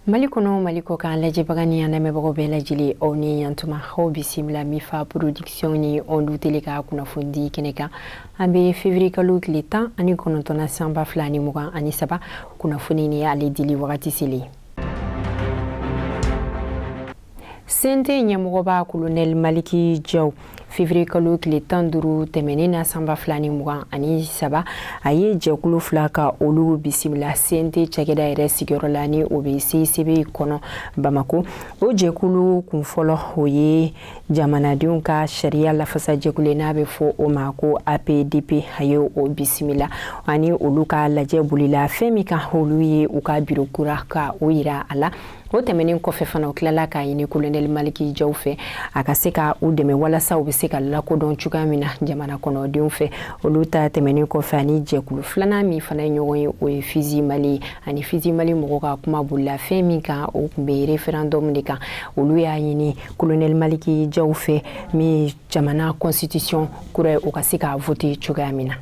mali kɔnɔ mali kɔkan lajɛbaga ni an lamɛnbagaw bɛɛ lajɛlen aw ni yantuma aw bisimila mifa production ni ondu tele ka kunnafoni kɛnɛ kan an bɛ fevrier kalo tile tan ani kɔnɔntɔn na san ba fila ni mugan ani saba kunnafoni ni ale dili wagati selen cnt ɲɛmɔgɔba kolonɛli maliki jaw fevriye kalo tile tan duuru tɛmɛnen na san ba fila ni mugan ani saba a ye jɛkulu fila ka olu bisimila cnt cakɛda yɛrɛ sigiyɔrɔ la ni o bɛ cicb kɔnɔ bamako o jɛkulu kun fɔlɔ o ye jamanadenw ka sariya lafasajɛkulu n'a bɛ fɔ o ma ko apdp a ye o bisimila ani olu ka lajɛ bolila fɛn min kan olu ye u ka biro kura ka o yira a la o tɛmɛnen kɔfɛ fana u tilala k'a ɲini kolonɛli maliki jaw fɛ a ka se ka u dɛmɛ walasa u bɛ se ka lakodɔn cogoya min na jamana kɔnɔdenw fɛ olu ta tɛmɛnen kɔfɛ ani jɛkulu filanan min fana ye ɲɔgɔn ye o ye fizi mali ani fizi mali mɔgɔ ka kuma bolila fɛn min kan o tun bɛ referendum de kan olu y'a ɲini kolonɛli maliki jaw fɛ min jamana constitution kura ye o ka se k'a vote cogoya min na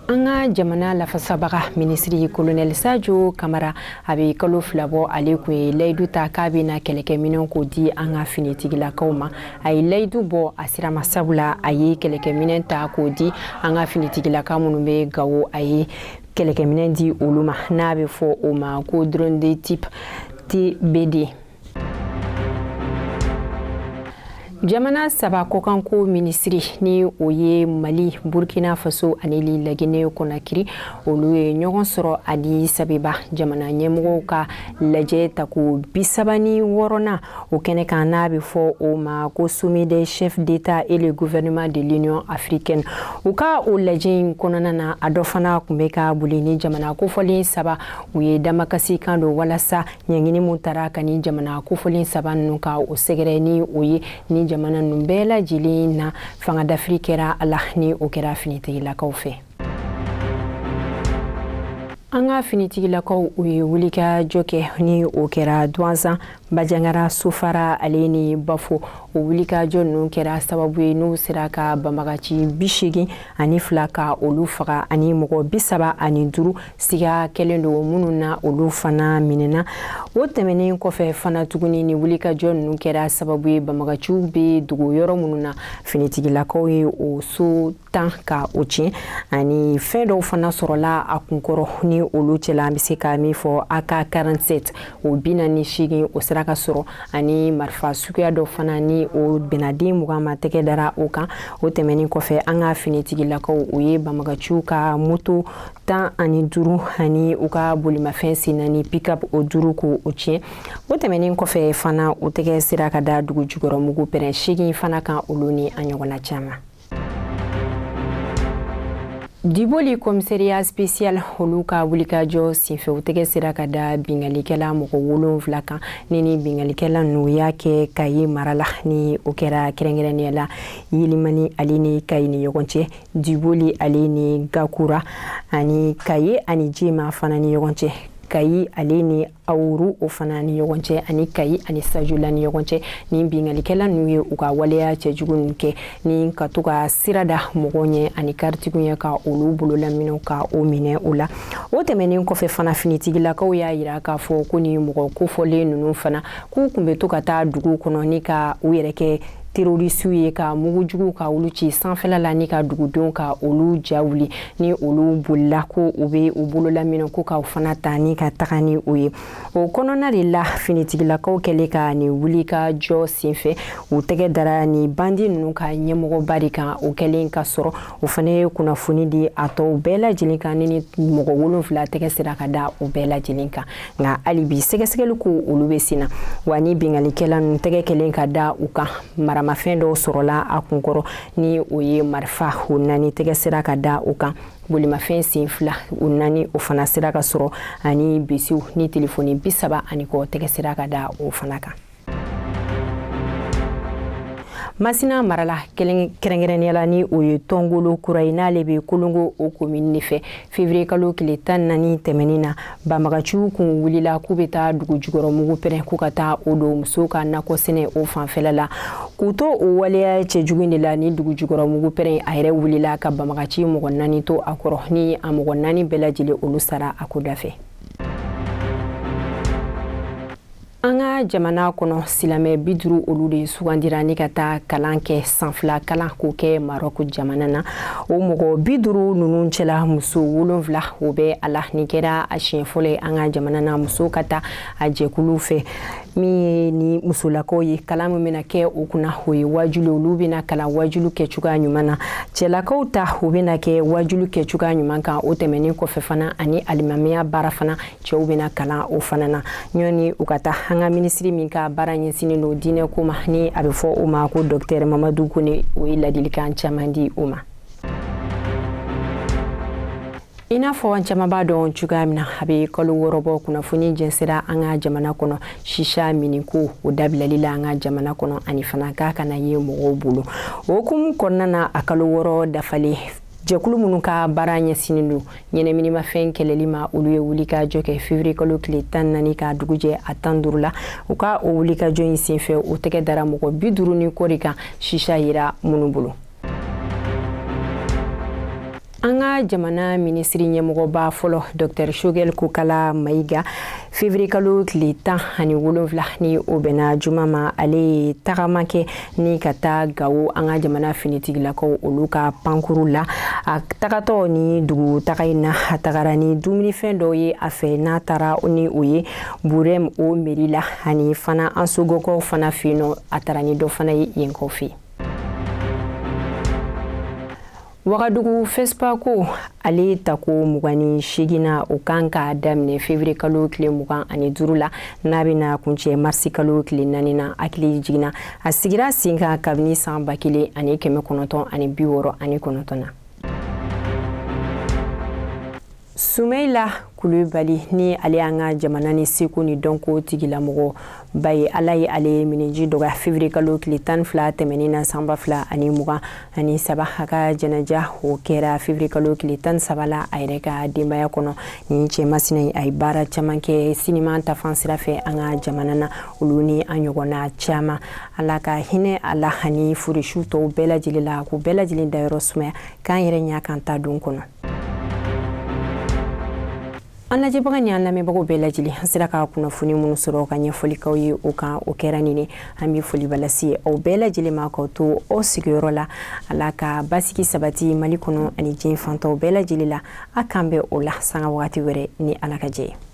an ka jamana lafasabaga minisiri kolonɛli sajo kamara a bɛ kalo fila bɔ ale kun ye layidu ta k'a bɛna kɛlɛkɛminɛnw k'o di an ka finitigilakaw ma a ye layidu bɔ a sira ma sabula a ye kɛlɛkɛminɛn ta k'o di an ka finitigilaka minnu bɛ gawo a ye kɛlɛkɛminɛn di olu ma n'a bɛ fɔ o ma ko drone de type tb2 jamana saba kɔkanko minisiri ni o ye mali burkina faso ani li lagine kɔnakiri olu ye ɲɔgɔn sɔrɔ addis abeba jamana ɲɛmɔgɔw ka lajɛ tako bisaba ni wɔɔrɔnan O kɛnɛ kan n'a bɛ fɔ o ma ko sommet des chefs d'État et le gouvernement de l'Union africaine u ka o lajɛ in kɔnɔna na a dɔ fana tun bɛ ka boli ni jamana kofɔlen saba u ye damakasikan don walasa ɲangini min tara ka ni jamana kofɔlen saba ninnu ka o sɛgɛrɛ ni o ye ni jamana ninnu bɛɛ lajɛlen na fangadafiri kɛra a la ni o kɛra finitigilakaw fɛ an ka finitigilakaw u ye wulikajɔ kɛ ni o kɛra duwanzan bajangara sofara ale ni bafo o wulikajɔ ninnu kɛra sababu ye n'u sera ka banbagaci bi seegin ani fila ka olu faga ani mɔgɔ bi saba ani duuru siga kɛlen don minnu na olu fana minɛna o tɛmɛnen kɔfɛ fana tuguni ni wulikajɔ ninnu kɛra sababu ye banbagaciw bɛ dogo yɔrɔ minnu na finitigilakaw ye o so tan ka o tiɲɛ ani fɛn dɔw fana sɔrɔla a kunkɔrɔ ni olu cɛla an bɛ se ka min fɔ AK 47 o bi naani ni seegin o sera ka sɔrɔ ani marifa suguya dɔ fana ni o bɛnna den mugan ma tɛgɛ dara o kan o tɛmɛnin kɔfɛ an ka finitigilakaw o ye banbagaciw ka moto tan ani duuru ani u ka bolimafɛn sen naani pickup o duuru ka o tiɲɛ o tɛmɛnin kɔfɛ fana o tɛgɛ sera ka da dugu jukɔrɔmugu pɛrɛn seegin fana kan olu ni a ɲɔgɔnna caman Diboli kɔmiseriya spesiyal olu ka wulikajɔ senfɛ u tɛgɛ sera ka da binkalikɛla mɔgɔ wolonfila kan ni nin binkalikɛla ninnu y'a kɛ kaye mara la ni o kɛra kɛrɛnkɛrɛnnenya la yelimani ale ni kaye ni ɲɔgɔn cɛ diboli ale ni gakura ani kaye ani jema fana ni ɲɔgɔn cɛ kayi ale ni awuru o fana ni ɲɔgɔn cɛ ani kayi ani sajula ni ɲɔgɔn cɛ ni binkalikɛla ninnu ye u ka waleya cɛjugu ninnu kɛ ni ka to ka sira da mɔgɔw ɲɛ ani karitigiw ɲɛ ka olu bololaminɛw ka o minɛ o la o tɛmɛnen kɔfɛ fana finitigilakaw y'a yira k'a fɔ ko ni mɔgɔ kofɔlen ninnu fana k'u kun bɛ to ka taa duguw kɔnɔ ni ka u yɛrɛ kɛ terorisiw ye ka mugu jugu ka olu ci sanfɛla la ni ka dugudenw ka olu ja wuli ni olu bolila ko u bɛ u bololaminɛ ko k'o fana ta ni ka taga ni o ye o kɔnɔna de la finitigilakaw kɛlen ka nin wulikajɔ senfɛ u tɛgɛ dara ni bandi ninnu ka ɲɛmɔgɔba de kan o kɛlen ka sɔrɔ o fana ye kunnafoni di a tɔw bɛɛ lajɛlen kan ni nin mɔgɔ wolonfila tɛgɛ sera ka da o bɛɛ lajɛlen kan nka hali bi sɛgɛsɛgɛli ko olu bɛ sen na wa ni binkalikɛla ninnu tɛgɛ kɛlen ka da u kan maramafɛn dɔw sɔrɔla a kunkɔrɔ ni o ye marifa o naani tɛgɛ sera ka da o kan bolimafɛn sen fila o naani o fana sera ka sɔrɔ ani bisiw ni telefoni bi saba ani kɔ tɛgɛ sera ka da o fana kan masina mara la kɛrɛnkɛrɛnnenya la ni o ye tɔngolo kura ye n'ale bɛ kolongo o komini de fɛ fevrier kalo tile tan ni naani tɛmɛnin na banbagaciw kun wulila k'u bɛ taa dugu jukɔrɔ mugu pɛrɛn k'u ka taa o don musow ka nakɔ sɛnɛ o fanfɛla la k'u to o waleya cɛjugu in de la ni dugu jukɔrɔ mugu pɛrɛn a yɛrɛ wulila ka banbagaci mɔgɔ naani to a kɔrɔ ni a mɔgɔ naani bɛɛ lajɛlen olu sara a ko da fɛ an ka jamana kɔnɔ silamɛ bi duru olu de sugandira ni ka taa kalan kɛ san fila kalan k'o kɛ marɔku jamana na o mɔgɔ bi duru ninnu cɛla muso wolonfila o bɛ a la nin kɛra a siɲɛ fɔlɔ ye an ka jamana na muso ka taa a jɛkulu fɛ min ye ni musolakaw ye kalan min bɛna kɛ o kunna o ye wajuli olu bɛna kalan wajulu kɛ cogoya ɲuman na cɛlakaw ta o bɛna kɛ wajulu kɛ cogoya ɲuman kan o tɛmɛnen kɔfɛ fana ani alimamiya baara fana cɛw bɛna kalan o fana na ɲɔni u ka taa an ka minisiri min ka baara ɲɛsinen don diinɛ ko ma ni a bɛ fɔ o ma ko dɔktɛr mamadu kone o ye ladilikan caman di o ma i n'a fɔ an caman b'a dɔn cogoya min na a bɛ kalo wɔɔrɔ bɔ kunnafoni jɛnsɛnna an ka jamana kɔnɔ shisha minko o dabilali la an ka jamana kɔnɔ ani fana k'a kana ye mɔgɔw bolo o hukumu kɔnɔna na a kalo wɔɔrɔ dafalen jɛkulu minnu ka baara ɲɛsinin don ɲɛnaminimafɛn kɛlɛli ma olu ye wulikajɔ kɛ fevrier kalo tile tan naani ka dugu jɛ a tan duuru la u ka o wulikajɔ in senfɛ u tɛgɛ dara mɔgɔ bi duuru ni kɔ de kan shisha yera minnu bolo an ka jamana minisiri ɲɛmɔgɔba fɔlɔ dr shogɛl kokala mayiga fevrier kalo tile tan ani wolonfila ni o bɛnna juma ma ale ye tagama kɛ ni ka taa gawo an ka jamana finitigilakaw olu ka pankuru la a tagatɔ ni dugu taga in na a tagara ni dumunifɛn dɔw ye a fɛ n'a taara ni o ye burɛm o meri la ani fana ansɔngɔkaw fana fɛ yen nɔ a taara ni dɔ fana ye yenkaw fɛ yen wagadugu fespako ale tako mugan ni seginnan o kan ka daminɛ fevriye kalo tile mugan ani duru la n'a bɛna kuncɛ marisi kalo tile naani na hakili jiginna a sigira sen kan kabini san ba kelen ani kɛmɛ kɔnɔntɔn ani bi wɔɔrɔ ani kɔnɔntɔn na sumeyila kulubali ni ale y'an ka jamana ni seko ni dɔnko tigilamɔgɔ ba ye ala ye ale ye minji dɔgɔya fevriye kalo tile tan fila tɛmɛnen na sanba fila ani mugan ani saba a ka jɛnɛja o kɛra fevriye kalo tile tan saba la a yɛrɛ ka denbaya kɔnɔ ni cɛ masina ye a ye baara caman kɛ siniman ta fan sira fɛ an ka jamana na olu ni a ɲɔgɔnna caman ala ka hinɛ a la ani furisiw tɔw bɛɛ lajɛlen la k'u bɛɛ lajɛlen dayɔrɔ sumaya k'an yɛrɛ ɲa k'an ta don kɔnɔ an lajɛbaga ni an lamɛnbagaw bɛɛ lajɛlen an sera ka kunnafoni minnu sɔrɔ ka ɲɛfɔli k'aw ye o kan o kɛra nin ye an bɛ foliba lase aw bɛɛ lajɛlen ma k'aw to aw sigiyɔrɔ la ala ka basigi sabati mali kɔnɔ ani diɲɛ fan tɔw bɛɛ lajɛlen la a k'an bɛn o la sanga wagati wɛrɛ ni ala ka jɛn ye